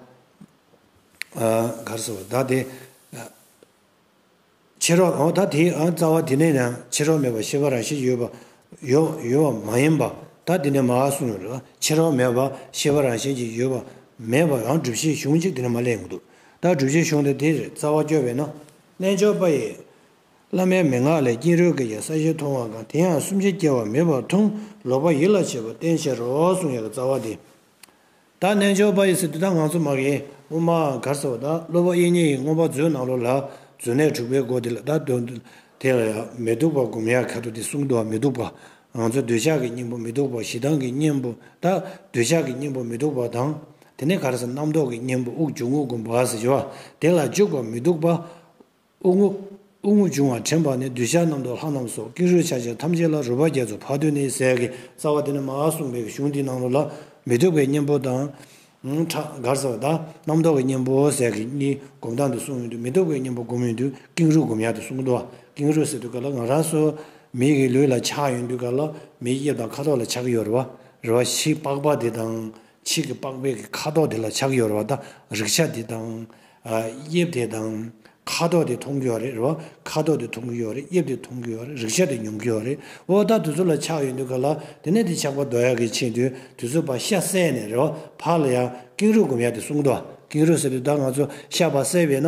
གར་ཟེར་བ་ད་དེ། ཕྱི་རོལ་འོ་ད་དེའི་ཨ་རྩ་བ་དེ་ནས་ཡང་ཕྱི་རོལ་མེད་པར་ཤེས་པ་རང་བཞིན་ཡོད་པ། ཡོད་པ་མ་ཡིན་པ། ད་དེ་ནས་མ་ཨ་གསུམ་ཡོད་ལ་ཕྱི་རོལ་མེད་པར་ཤེས་པ་རང་བཞིན་གྱིས་ཡོད་པ། མེད་པ་རང་བསྒྲུབ་བྱའི་གཞུང་གཅིག་དེ་ནས་མ་ལས་མི་འདུག་ད་བསྒྲུབ་བྱའི་གཞུང་དེ་དེར་རྩ་བ་བསྐྱོད་པས་ན། རྣལ་འབྱོར་པ་ཡིས། བླ་མའི་མན་ངག་ལས་སྐྱེས་རོལ་གྱི་ཡང་ས་བཞི་མཐོང་བ་གང་དེ་ཡང་གསུམ་ཆའི་སྐྱེ་བ་མེད་པར་མཐོང་ལོག་པ་ཡིད་ལ་བྱེད་པ་བསྟན་བྱའི་རོ་གསུམ་ཡོད་ལ་རྩ་བ་དེ། ད་རྣལ་འབྱོར་པ་ཡི་སི་ཏུ་དག་ངང་ཚུལ་མག་ཡིན་དབུ་མ་གར་ཟེར་བ་དག་སློབ་བུ་དབྱེ་གཉིས་ཡིན་དངོས་པོ་མཛོད་ནང་ལོགས་ལ་མཛོད་གནས་དྲུག་པའི་སྒོ་དེ་ལ་དག་དོན་དེ་ལ་ཡང་མི་སྡུག་པ་བསྒོམ་ཡང་ཁ་དོག་དེ་གསུམ་དུའང་མི་སྡུག་པ་ངང་ཚུལ་འདོད་ཆགས་ཀྱི་སྙིང་པོ་མི་སྡུག་པ་ཞེ་སྡང་གི་གཉེན་པོ་དག་འདོད་ཆགས་ཀྱི་གཉེན་པོ་མི་སྡུག་པ་དང་དེ་ནས་གར་ཟེར་རྣམ་རྟོག་གི་གཉེན་པོ་དབུགས་འབྱུང་ངོ་བསྒོམ་བ་ཟེར་བ་དེ་ལ་འཇུག་པ་མི་སྡུག་པ་དབུགས་རྔུབ། དབུགས་རྔུབ་བྱུང་བ་དྲན་པ་ནི་གདུལ་བྱ་རྣམས་དུག་ལྷ་རྣམས་སོགས་ཀེང་རུས་ཆགས་བྱེད་ཐམས་ཅད་ལ་རུས་པ་བརྒྱད་ཚོ་ཕག་མདུད་ནི་ཟས་ཀྱི་རྩ་བ་དེ་ནི་མ་ཨ་གསུངས་པའི་གཞུང་འདིའི་ནང་དུ་ལ། མི་སྡུག་པའི་གཉེན་པོ་དང། ཁྲག་མགར་ཟ་བ་དག། རྣམ་རྟོག་གི་གཉེན་པོ་ཟས་ཀྱི་གཉིས་བསྒོམ་སྟངས་འདི་གསུངས་ཡོད་དུས་མི་སྡུག་པའི་གཉེན་པོ་བསྒོམ་ཡོད་དུས་ཀེང་རུས་བསྒོམ་ཡག་འདི་གསུངས་འདུག་ཀེང་རུས་ཟས་དུག་ག་ལ་ང་རང་སོ། མིག་གི་ལུས་ལ་ཆགས་ཡོད་དུས་ག་ལ་མིའི་དབྱིབས་དང་ཁ་དོག་ལ་ཆགས་ཀྱི་ཡོད། རུས་པ་བཞི་པགས་པ་འདི་དང། ཕྱིས་ཀྱི་པགས་པའི་གི་ཁ་དོག་དེ་ལ་ཆགས་ཡོད་རེད་བ་དང་རིག་ཆ་དེ་དང། དབྱིབས་དེ་དང། ཁ་དོག་དེ་མཐོང་གི་ཡོད་རེད་བ། ཁ་དོག་དེ་མཐོང་གི་ཡོད་རེད་དབྱིབས་དེ་མཐོང་གི་ཡོད་རེད་རིག་ཆ་དེ་མྱོང་གི་ཡོད་རེད་བ། ད་དུས་ཚོད་ལ་ཆགས་ཡོད་འདུག་ག་ལ། དེ་ནས་དེ་ཆགས་པ་རྡོ་ཡག་གིས་ཕྱིན་དུས་དུས་ཚོད་པ་ཤ་བསད་ནས་རེད་བ། ཕག་ལ་ཡང་ཀེང་རུས་སྒོམ་ཡག་དེ་གསུང་དུ་ཨ་ཀེང་རུས་ཟེར་དུས་ད་ང་ཚོ་ཤ་བ་བསད་བས་ན།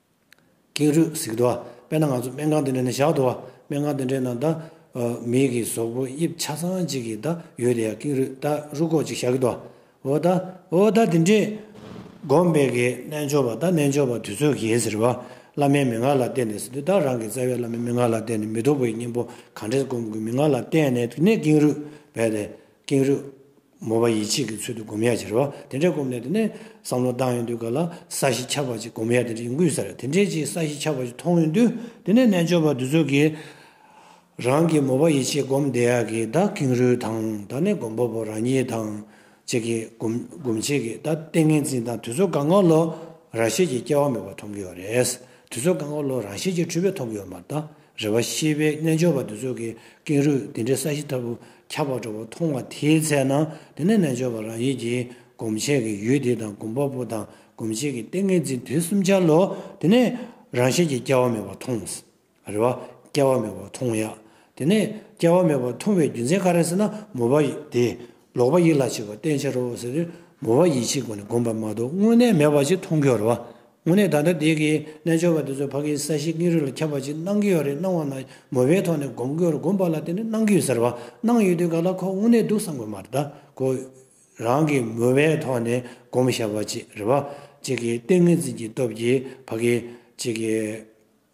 ཀེང་རུས་གཟིགས་འདུག་དཔེར་ན་ང་ཚོ་སྨན་ཁང་འདི་འདྲ་ནས་བཞག་འདུག་སྨན་ཁང་འདི་འདྲའི་ནང་ད་མིག་གི་ཟོག་པོ་དབྱིབས་ཆ་ཚང་ཅིག་གིས་ད་ཡོད་དེ་ཡང་ཀེང་རུས་ད་རུ་ཁོག་ཅིག་བཞག་གི་འདུག་འོ་ད་འོ་ད་དེ་འདྲའི། སྒོམ་པའི་གེ་རྣལ་འབྱོར་པ་ད་རྣལ་འབྱོར་པ་དུས་ཚོད་གེ་ཟེར་བ་བླ་མའི་མན་ངག་ལ་བརྟེན་ནས་ཟིན་དུས་ད་རང་གི་རྩ་བའི་བླ་མའི་མན་ངག་ལ་བརྟེན་ནས་མི་སྡུག་པའི་གཉེན་པོ་གང་འདྲས་སྒོམ་དགོས་མན་ངག་ལ་བརྟེན་ནས་དེ་ནས་ཀེང་རུས་བས་ཏེ་ཀེང་རུས་མོ་བ་ཡིད་ཆེས་ཀྱི་ཚུལ་དུ་སྒོམ་ཡ་བྱེད་རེ་བ་དེ་འདྲའི་སྒོམ་ལས་དེ་ནས་བསམ་བློ་བཏང་ཡོང་དུས་ག་ལ་ས་གཞི་ཆགས་པ་ཅིག་སྒོམ་ཡ་དེ་འདྲ་ཡོང་གི་ཟེར་དེ་འདྲའི་ཅིག་ས་གཞི་ཆགས་པ་ཅིག་མཐོང་ཡོང་དུས་དེ་ནས་རྣལ་འབྱོར་པ་དེ་ཚོ་གིས་རང་གི་མོ་བ་ཡིད་ཆེས་སྒོམ་བསྡད་ཡ་གི་ད་ཀེང་རུས་དང་ད་ནས་སྒོམ་པོ་པོ་རང་ཉིད་དང་བཅས་ཀྱི་སྒོམ་བྱེད་ཀྱི་ད་ཏིང་ངེ་འཛིན་དང་དུས་ཚོད་གང་གང་ལོ་རང་ཤེས་ཀྱི་སྐྱེ་བ་མེད་པ་མཐོང་གི་ཡོད་རེད་དུས་ཚོད་གང་གང་ལོ་རང་ཤེས་ཀྱི་འཁྲུལ་པས་མཐོང་གི་ཡོད་མ་ད་རེ་བ་ཤེས་པའི་རྣལ་འབྱོར་པ་དེ་ཚོ་གིས་ཀེང་རུས་དེ་འདྲའི་ས་གཞི་ལྟ་བུ་ཁྱབ་པར་འགྲོ་བ་མཐོང་བ་དེའི་ཚེ་ན་དེ་ནས་རྣལ་འབྱོར་པ་རང་ཉིད་ཀྱིས་སྒོམ་བྱེད་ཀྱི་ཡུལ་དེ་དང་སྒོམ་པ་པོ་དང་སྒོམ་བྱེད་ཀྱི་ཏིང་ངེ་འཛིན་དེ་གསུམ་འཆར་ལོ། དེ་ནས་རང་བཞིན་གྱིས་སྐྱེ་བ་མེད་པ་མཐོང། རེ་བ་སྐྱེ་བ་མེད་པ་མཐོང་ཡ། དེ་ནས་སྐྱེ་བ་མེད་པ་མཐོང་བའི་རྒྱུ་མཚན་ག་རེ་ཟེར་ན་མོས་པ་དེས་ལོག་པ་ཡིད་ལ་བྱེད་པ་བསྟན་ཕྱིར་རོ། ཟེར་ཏེ་མོས་པ་ཡིད་བྱེད་ཀུན་ནས་བསྒོམས་པ་མ་གཏོགས་དངོས་གནས་མེད་པ་ཅིག་མཐོང་གི་རེ་བ་དངོས་གནས་ད་ལྟ་འདས་ཀྱི་རྣལ་འབྱོར་པ་དེ་ཚོ་ཕ་གིའི་ས་གཞི་སྙིང་རུས་ལ་ཁྱབ་པ་ཅིག་གནང་གི་ཡོད་རེད་སྣང་བ་ན་མོ་པའི་ཐོག་ནས་སྒོམ་དགོས་རུ་སྒོམ་པ་ལ་དེ་འདྲ་གནང་གི་ཡོད་ཟེར་བ་གནང་ཡོད་དུས་ག་ལ་ཁོ་དངོས་གནས་འདུག་བསམ་དགོས་མ་རེད་ད་ཁོ་རང་གིས་མོ་པའི་ཐོག་ནས་སྒོམ་ཞབས་པ་ཅིག་རེད་བ་ཅིག་གིས་ཏིང་ངེ་འཛིན་གྱི་སྟོབས་ཀྱིས་ཕ་གི་ཅིག་གིས།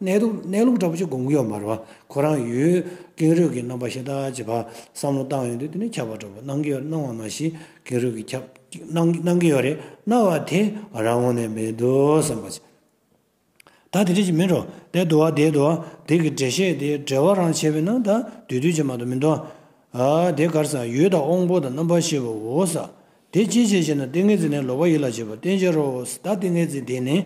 གནས་ལུགས་གནས་ལུགས་འདྲ་པོ་ཅིག་དགོངས་ཀྱི་ཡོད་མ་རེད་བ། ཁོ་རང་ཡུལ་ཀེང་རུས་ཀྱི་རྣམ་པ་ཤེས་ཐག་བཅད་པ་བསམ་བློ་བཏང་ཡོད་དུས་དེ་ནས་ཁྱབ་པ་འགྲོ་དགོས་གནང་གི་ཡོད་གནང་བ་མ་གཞི་ཀེང་རུས་ཀྱི་ཁྱབ་གནང་གི་ཡོད་རེད་གནང་བ་དེ་རང་ངོ་ནས་མི་འདུག་བསམ་པ་ཅི་ད་དེ་འདྲ་ཞིག་མིན་རོ་དེ་འདུག་བ་དེ་འདུག་བ་དེ་གི་འགྲེལ་བཤད་དེ་འགྲེལ་བ་རང་བྱས་པས་ན་ད་དུས་དུས་ཆེ་མ་འདུག་མི་འདུག་བ། དེ་གར་ས་ཡུལ་དང་དབང་པོ་དང་རྣམ་པ་ཤེས་པའོ་ས་དེ་ཅིའི་ཕྱིར་ཞེ་ན་ཏིང་ངེ་འཛིན་ནི་ལོག་པ་ཡིད་ལ་བྱེད་པ་བསྟན་ཕྱིར་རོ། ད་ཏིང་ངེ་འཛིན་དེ་ནི་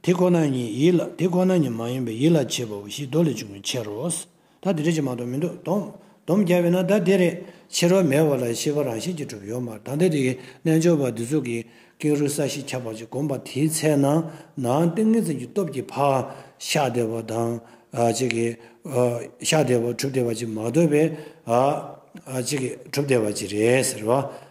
དེ་ཁོ་ན་ཉིད་ཡིད་ལ་དེ་ཁོ་ན་ཉིད་མ་ཡིན་པའི་ཡིད་ལ་བྱེད་པའོ་ཞེས་མདོ་ལས་འབྱུང་བའི་ཕྱིར་རོ། ད་དེ་འདྲ་ཅིག་མ་གཏོགས་མི་འདུག་སྟོང། སྡོམ་རྒྱ་བས་ན་ད་དེ་རེད་ཕྱི་རོལ་མེད་བ་ལ་ཤེས་པ་རང་བཞིན་གྱིས་གྲུབ་ཡོད་མར་ད་ལྟ་དེ་ཡི་རྣལ་འབྱོར་པ་འདི་ཚོགས་ཀྱི་ཀེང་རུས་ས་གཞི་ཁྱབ་པ་ཅིག་བསྒོམ་པ་དེའི་ཚེ་ན་ནའང་ཏིང་ངེ་འཛིན་གྱི་སྟོབས་ཀྱིས་བག་ཤ་བདེ་བ་དང། ཅིག་གིས། ཤ་བདེ་བ་གྲུབ་བདེ་བ་ཅིག་མ་འདོད་པས། ཅིག་གིས་གྲུབ་བདེ་བ་ཅིག་རེད་ཟེར་བ།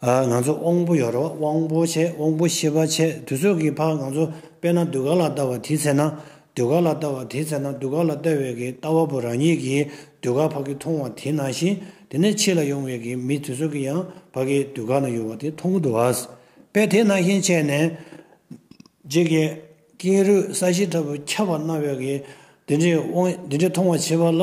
ང་ཚོ་དབང་པོ་ཡོད་རོགས་དབང་པོ་ཆེ་དབང་པོ་ཤེས་པ་ཆེ་དུས་ཚོད་ཀྱི་ཕག་ང་ཚོ་དཔེ་ན་གདུལ་དཀའ་ལ་ལྟ་བ་དེའི་ཚེ་ན་གདུལ་དཀའ་ལ་ལྟ་བ་དེའི་ཚེ་ན་གདུལ་དཀའ་ལ་ལྟ་བའི་གི་ལྟ་བ་པོ་རང་ཉིད་ཀྱི་གདུལ་དཀའ་ཕ་གི་མཐོང་བ་དེ་ན་བཞིན་དེ་ནས་ཕྱི་ལ་ཡོང་བའི་གི་མི་དེ་ཚོ་གི་ཡང་ཕ་གི་གདུལ་དཀའ་ན་ཡོད་བ་དེ་མཐོང་གི་འདུག་བ་པས་དེ་ན་བཞིན་བྱས་ནས་རྗེས་ཀྱི་ཀེང་རུས་ས་གཞི་ལྟ་བུ་ཁྱབ་པ་ན་བའི་གི་དེ་འདྲའི་དབང་དེ་འདྲའི་མཐོང་བ་བྱེད་པ་ལ།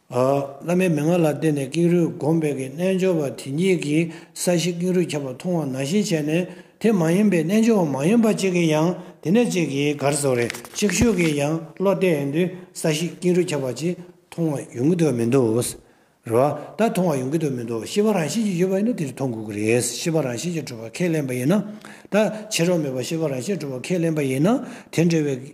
བླ་མའི་མན་ངག་ལ་བརྟེན་ནས་ཀེང་རུས་བསྒོམས་པས་ཀྱི་རྣལ་འབྱོར་པ་དེ་ཉིད་ཀྱིས་ས་གཞི་ཀེང་རུས་ཁྱབ་པ་མཐོང་བ་ན་བཞིན་བྱས་ནས་དེ་མ་ཡིན་པའི་རྣལ་འབྱོར་བ་མ་ཡིན་པ་གཅིག་གིས་ཡང་དེ་ནས་གཅིག་གིས་གར་སོགས་རེ་གཅིག་ཤོས་ཀྱིས་ཡང་བློ་གཏད་ཡོང་དུས་ས་གཞི་ཀེང་རུས་ཁྱབ་པ་ཅིག་མཐོང་བ་ཡོང་གི་འདུག་མི་འདུག་རེད་བ། ད་མཐོང་བ་ཡོང་གི་འདུག་མི་འདུག་ཤེས་པ་རང་བཞིན་གྱིས་ཡོད་པ་ཡིན་ན་དེར་མཐོང་དགོས་ཀྱི་རེད་ཤེས་པ་རང་བཞིན་གྱིས་གྲུབ་པ་ཁས་ལེན་པ་ཡིན་ན། ད་བྱེད་རོགས་མེད་པར་ཤེས་པ་རང་བཞིན་གྲུབ་པ་ཁས་ལེན་པ་ཡིན་ན་དེ་འདྲ་བའི་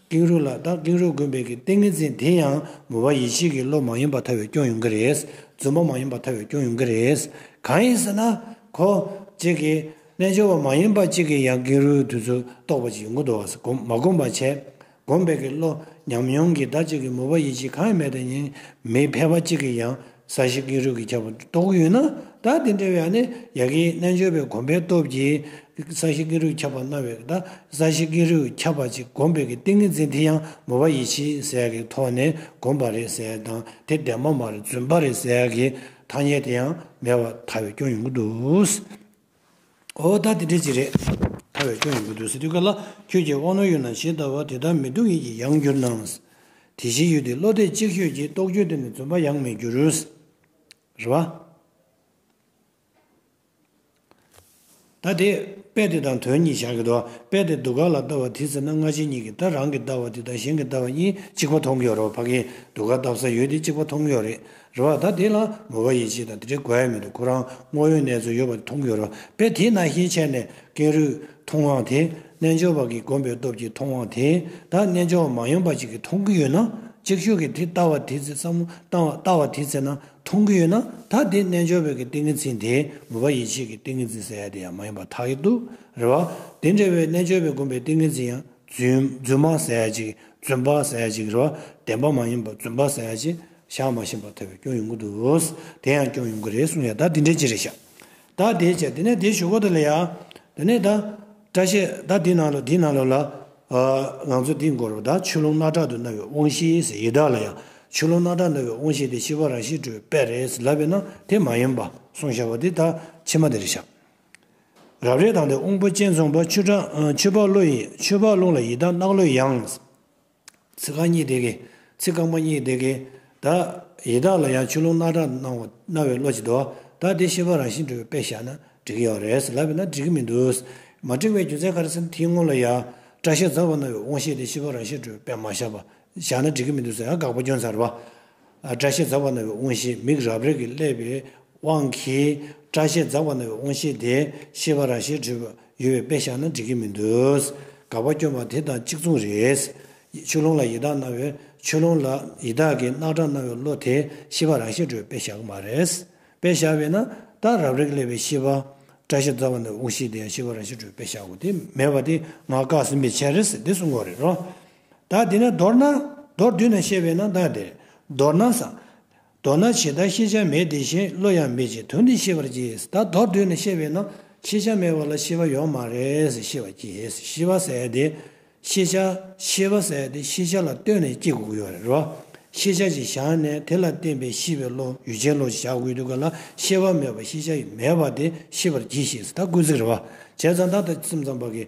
ཀེང་རུས་ལ་དྭགས་ཀེང་རུས་དགོན་པའི་གི་ཏིང་ངེ་འཛིན་དེ་ཡང་མོ་བ་ཡེ་ཤེས་ཀྱི་བློ་མ་ཡིན་པ་ཐར་བའི་སྐྱོན་ཡོང་གི་རེད། རྫུན་པ་མ་ཡིན་པ་ཐར་བའི་སྐྱོན་ཡོང་གི་རེད། གང་ཡིན་ཟེར་ན། ཁོ། གཅིག་གིས་རྣལ་འབྱོར་བ་མ་ཡིན་པ་གཅིག་གིས་ཡང་ཀེང་རུས་དུས་ཚོད་རྟོགས་པ་ཅིག་ཡོང་གི་འདུག་བ་ཟེར་མ་གོམས་པར་བྱས། གོམས་པའི་གི་བློ་ཉམས་མྱོང་གིས་བདག་གཅིག་གི་མོ་བ་ཡེ་ཤེས་གང་ཡང་མེད་དེ་ཉིད་མི་ཕལ་བ་གཅིག་གིས་ཡང་ས་གཞི་ཀེང་རུས་ཀྱིས་ཁྱབ་པ་རྟོགས་ཡོད་ན་ད་དེ་འདྲ་བའི་ནི་ཡ་གིའི་རྣལ་འབྱོར་པའི་གོམས་པའི་སྟོབས་ཀྱིས་ས་གཞི་ཀེང་རུས་ཁྱབ་པར་སྣང་བས་ད་ས་གཞི་ཀེང་རུས་ཁྱབ་པ་ཅིག་གོམས་པའི་གི་ཏིང་ངེ་འཛིན་དེ་ཡང་མོ་བ་ཡི་ཕྱིའི་ཟས་ཀྱི་ཐོག་ནས་གོམས་པ་རེད་ཟེར་དང་དེ་འདས་མ་མར་བརྫུན་པ་རེད་ཟེར་གྱི་ཐ་སྙད་དེ་ཡང་མེད་པར་ཐལ་བའི་སྐྱོན་ཡོང་གི་འདུག། འོ་ད་དེ་འདྲས་ཅིག་རེད། ཐར་བའི་སྐྱོན་ཡོད་དགོས་འདུག་ཟེར་དུས་ག་ལ་ཁྱོད་ཀྱིས་དབང་རྣོན་ཡོད་ན་ཞེས་ལྟ་བ་དེ་ལྟར་མི་འདུག་ཡིད་ཀྱི་ཡང་འགྱུར་སྣང། དེ་བཞིན་ཡོད་དེ་བློ་གཏད་གཅིག་ཤོས་ཀྱིས་རྟོག་དཔྱོད་དེ་ནི་རྫུན་པ་ཡང་མི་འགྱུར། རེད་བ། ད་དེ་དཔེ་དེ་དང་དོན་གཉིས་བཞག་གི་འདུག་དཔེ་དེ་སྡུག་ག་ལ་ལྟ་བ་དེ་ཟེར་ན་སྔ་ཕྱི་གཉིས་ཀྱི་ལྟ་རང་གི་ལྟ་བ་དེ་དང་གཞན་གྱི་ལྟ་བ་གཉིས་གཅིག་པ་མཐོང་གི་ཡོད་རོགས་ཕ་གིས་སྡུག་ག་བལྟ་ས་ཡོད་དེ་གཅིག་པ་མཐོང་གི་ཡོད་རེད་རེད་བ། ད་དེ་ལ་ངོ་བོ་ཡིད་བྱེད་དང་དེ་འདྲའི་གོ་ཡ་མེད་དུ་ཁོ་རང་དངོས་ཡོད་གནས་ཚུལ་ཡོད་པ་དེ་མཐོང་གི་རོ་པས་དེས་ན་ཤེས་བྱས་ནས་ཀེང་རུས་མཐོང་དབང་དེ་རྣལ་འབྱོར་བ་གིས་བསྒོམས་པའི་སྟོབས་ཀྱིས་མཐོང་དབང་དེ་དག་རྣལ་འབྱོར་བ་མ་ཡོང་པ་ཅིག་གིས་མཐོང་གི་ཡོད་ན་ཅིག་ཤོས་ཀྱིས་དེ་ལྟ་བ་དེ་ཚེ་བསམ་བློ་བཏང་བ་དེ་ཚེ་ན་མཐོང་གི་ཡོད་ན་ད་དེ་རྣལ་འབྱོར་བའི་གི་ཏིང་ངེ་འཛིན་དེ་ངོ་བ་ཡིད་བྱེད་ཀྱི་ཏིང་ངེ་འཛིན་ཟེར་ཡ་དེ་ཡང་མ་ཡིན་པ་ཐག་ཡི་འདུག་རེད་བ། དེ་འདྲ་བའི་རྣལ་འབྱོར་བས་བསྒོམས་པའི་ཏིང་ངེ་འཛིན་ཡང་རྫུན་མ་ཟེར་ཡ་ཅིག་རྫུན་པ་ཟེར་ཡ་ཅིག་རེད་བ། བདེན་པ་མ་ཡིན་པར་རྫུན་པ་ཟེར་ཡ་ཅིག་བཞག་མ་ཤེས་པར་ཐལ་བའི་སྐྱོན་ཡོང་གི་འདུག་དེ་ཡང་སྐྱོན་ཡོང་གི་རེད་གསུངས་ཡ་ད་འདི་འདྲའི་ཅི་རེད་བཞག་ད་དེའི་ཆ་དེ་ནས་དེ་ཞུ་གོ་ད་ལ་ཡ་དེ་ནས་ད་བཀྲ་ཤེས་ད་འདི་ནང་ལོ་འདི་ནང་ལོ་ལ་ལང་ཚོ་འདི་འགོར་བ་ད་ཆུ་ཀླུང་སྣ་དྲག་ཏུ་ན་བའི་དབང་ཤེས་ཟེར་ཡི་དྭགས་ལ་ཡང་ཆུ་ཀླུང་སྣ་དྲག་ན་བའི་དབང་ཤེས་དེ་ཤི་བ་རང་ཤི་འགྲོའི་དཔེ་རེད་ལབ་པའི་ན་དེ་མ་ཡིན་པ་གསུངས་བཞག་པ་དེ་ད་ཕྱི་མ་དེ་རེད་བཞག་རབ་རེད་དང་དེ་དབང་པོ་ཅན་ཚོང་པ་ཆུ་ཕག་བློ་ཡིན་ཆུ་ཕག་རླུང་ལ་ཡི་དྭགས་རྣག་བློའི་ཡང། ཚིག་རྐང་གཉིས་དེ་གས། ཚིག་རྐང་པ་གཉིས་དེ་གས། དག། ཡི་དྭགས་ལ་ཡང་ཆུ་ཀླུང་སྣ་དྲག་སྣང་བ་རྣ་བའི་བློ་ཅི་འདོད་བ་དག་དེ་ཤེས་པ་རང་བཞིན་གྲོལ་བའི་དཔེ་བཞག་ན་འགྲིག་གི་ཡོད་རེད་ལབ་པས་ན་འགྲིག་གི་མི་འདུག། མ་འགྲིག་པའི་རྒྱུ་མཚན་ག་རེ་ཟེར་ན་དེའི་སྔོན་ལ་ཡང་སྐྲ་ཤད་འཛར་བ་རྣ་བའི་དབང་ཤེས་དེ་ཤེས་པ་རང་བཞིན་གྲོལ་བའི་དཔེ་མ་བཞག་པ་བཞག་ན་འགྲིག་གི་མི་འདུག་ཟེར་ཡང་དགག་པ་སྐྱོན་ཚར་བ། བཀྲ་ཤིས་འཛག་པ་ན་བའི་དབང་བཞི་མིག་རབ་རིབ་ཀྱིས་བསླད་པའི་དབང་གིས་བཀྲ་ཤིས་འཛག་པ་ན་བའི་དབང་བཞི་དེ་ཤེས་པ་རང་ཤེས་འཁྲུལ་པ་ཡོད་པའི་དཔེ་བཞག་ན་འགྲིག་གི་མི་འདུག་དགག་པ་སྐྱོན་པ་དེ་དང་གཅིག་མཚུངས་རེད། ཆུ་ཀླུང་ལ་ཡི་དྭགས་སྣང་བའི་ཆུ་ཀླུང་ལ་ཡི་དྭགས་ཀྱི་རྣག་ཁྲག་སྣང་བའི་བློ་དེ་ཤེས་པ་རང་ཤེས་འཁྲུལ་བའི་དཔེ་བཞག་གི་མ་རེད། དཔེ་བཞག་པས་ན་རྟགས་རབ་རིབ་ཀྱིས་བསླད་པའི་ཤེས་པ། བཀྲ་ཤིས་འཛག་པ་ན་བའི་དབང་བཞི་དེ་ཤེས་པ་རང་ཤེས་འཁྲུལ་བའི་དཔེ་བཞག་གོ་དེ་མེད་པ་དེ་ངག་བཀག་ཟིན་པའི་ཕྱིར་རེད། འདི་གསུང་ངོ་རེད་རོ། བདག་དེ་ན་མདོར་ན། མདོར་བསྡུས་ན་ཤེས་པས་ན་བདག་དེ། མདོར་ན་བཟང། མདོར་ན་ཇི་ལྟར་ཤེས་བྱ་མེད་དེ་བཞིན་བློ་ཡང་མེད་ཅིང་དོན་འདི་ཤེས་པར་གྱིས་ད་མདོར་བསྡུས་ན་ཤེས་པས་ན་ཤེས་བྱ་མེད་པ་ལ་ཤེས་པ་ཡོད་མ་རེད་ཤེས་པར་གྱིས་ཤེས་པ་ཟད་དེ། ཤེས་བྱ་ཤེས་པ་ཟད་དེ་ཤེས་བྱ་ལ་ལྟོས་ནས་སྐྱེ་དགུ་ཡོད་རེད་རོ། ཤེས་བྱ་ཅིག་བཞག་ནས་དེ་ལ་བརྟེན་པའི་ཤེས་པའི་བློ་ཡུལ་ཅན་བློ་ཞེས་བྱ་དགོས་འདུག་ག་ལ་ཤེས་པ་མེད་པ་ཤེས་བྱ་མེད་པ་དེ་ཤེས་པར་གྱིས་ཤིག་ད་ཀུན་གཟིགས་རེ་བ་བྱས་ཙང་ད་ལྟ་སེམས་ཙམ་པ་གིས